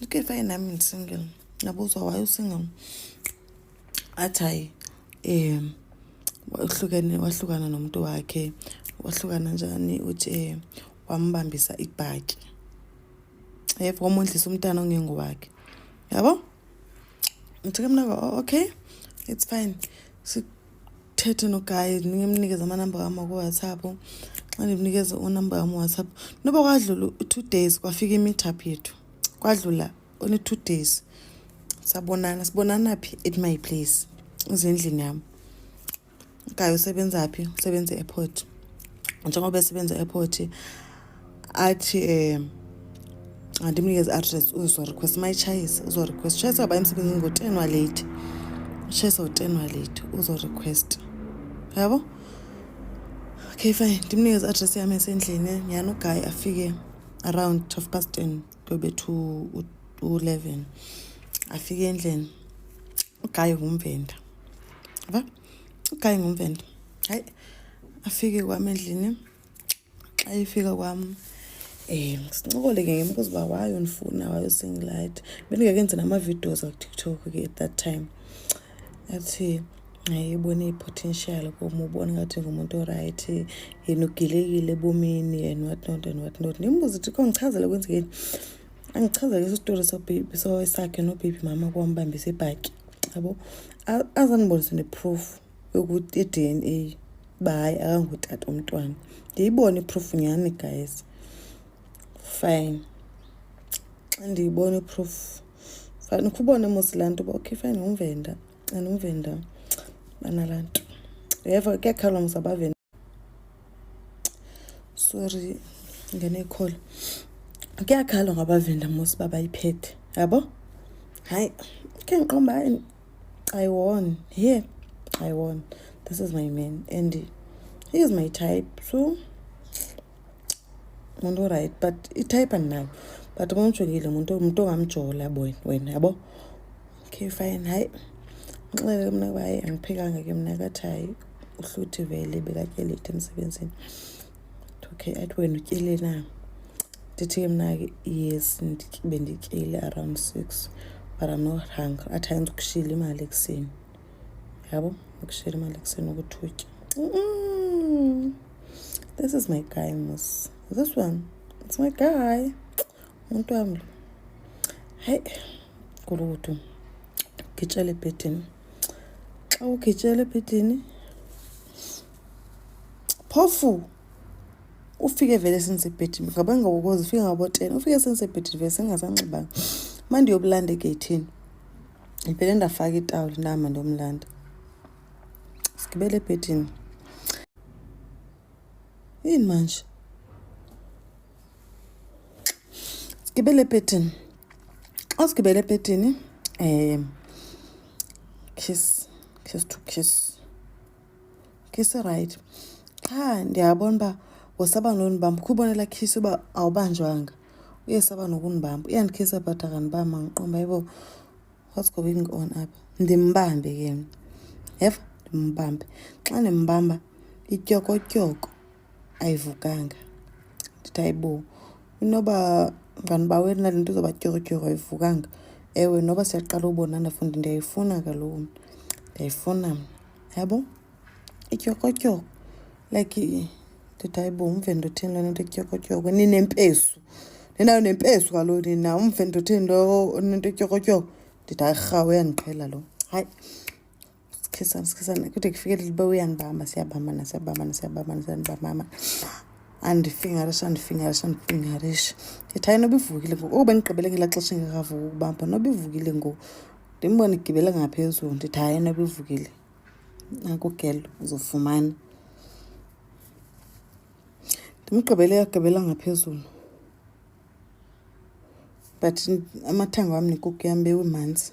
Look fine nami ndisingle. Nabuzwa why usingle? Athi hayi um wahlukene wahlukana nomuntu wakhe wahlukana njani uthi eh, wambambisa ibhaki yebo wamondlisa umntana ongengowakhe yabo ngithe ke mna okay it's fine ndithethe nogayi ndinike mnikeze amanamba wam wakowhatsapp xa ndimnikeze unamba wam whatsapp noba kwadlula u-two days kwafika i-meetup yethu kwadlula one-two days sabonana sibonana phi at my place usendlini yam ugayi usebenza phi usebenza e-airport njengoba esebenza e-airport athi um andimnikeze address uzorequest mayitshayise uzorequest tshayisa uba emsebenzini ngo-ten waleyithi utshayisa ngo-ten waleyithi uzorequest yabo okay fine ndimnikeze address yam esendlini nyhani ugayi afike around twelve past ten kube to u-eleven afike endlini ugayi ngumvenda yaba ugayi ngumvenda hayi afike kwam endlini xa efika kwam um sincokole ke ngem kuziba wayondifuna wayosingilayithi bendingakenzi namavideos akutiktok ke at that time athi ayibone i-potential kum ubona ngathi ngumuntu orayithi yena ugilekile ebomini and what not and what not ndimbuza uthi kho ndichazele kwenzekeni angichazele isitori sakhe nobaby mama kwambambisa ibhaki yabo azandibonise neproof yokuthi i-d n a uba hayi akangutata umntwana ndiyibone iproof nyhani guys fine xa ndiyibona iproof fine ukhubone mos laa nto uba okay fine umvenda andumvenda banalaa nto uyeva kuyakhalwa mos abavenda sorry ngene call kuyakhala ngabavenda mos uba bayiphethe yabo hayi khe ngiqomba hayi i won here i won this is my man and he is my type so muntu right but itype andinayo but kumjongile muntu muntu ongamjola wena yabo okay fine hayi nxele ke mna kuba hayi andiphekanga ke mna kathi hayi uhluthi vele bekatyelete emsebenzini okay athi wena utyele na ndithi ke mna ke yes bendityele around six but i'm not hungry athi hayi ndikushile imali ekuseni yabo ndikushile imali ekuseni ukuthutya this is my guy mos this one it's my guy Umntu wam lo. Hayi, gulukudu. Ugitshela ebhedini. Xa ugitshela ebhedini, phofu ufike vele sensebhedini ngaba ngabokozi ufike ngaboten ufike sensebhedini vele sengasanxibanga uma ndiyobulanda egeyithini ndivele ndafaka itawuli nama ndomlanda sigibele ebhedini yini manje sigibele ebhedini xa sigibele ebhedini um kiss kiss to kiss kiss right qha ndiyabona uba wosaba nonibamba khubonela kiss uba awubanjwanga uye saba nokunibamba uyandikhisa but akanibamba ngiqomba yibo what's going on up ndimbambe ke yeva ndimbambe xa ndimbamba ityokotyoko ayivukanga ndithi ayibo inoba nganiba wena le nto izoba tyorotyoro ayivukanga ewe noba siyaqala ubonana fundi ndiyayifuna kaloku mna ndiyayifuna mna yabo ityorotyoro like ndithi ayibo umve ndothini lona nto ityorotyoro ninempesu ninayo nempesu kaloku nina umve ndothini lo nento ityorotyoro ndithi ayirhawu uyandiqhela lo hayi Sikizana, sikizana. Kude kufike leli boy uyangibamba, siyabamba na, siyabamba na, siyabamba na, siyabamba mama. Andifingarisha, andifingarisha, andifingarisha. Ndithi hayi noba ivukile ngoku. Oh, bendigqibele ngelaa xesha ingekavuki ukubamba. Noba ivukile ngoku. Ndimbone igibele ngaphezulu. Ndithi hayi noba ivukile. Naku girl uzofumana. Ndimgqibele yagqibela ngaphezulu. But amathanga wam nekuku yam bewimanzi.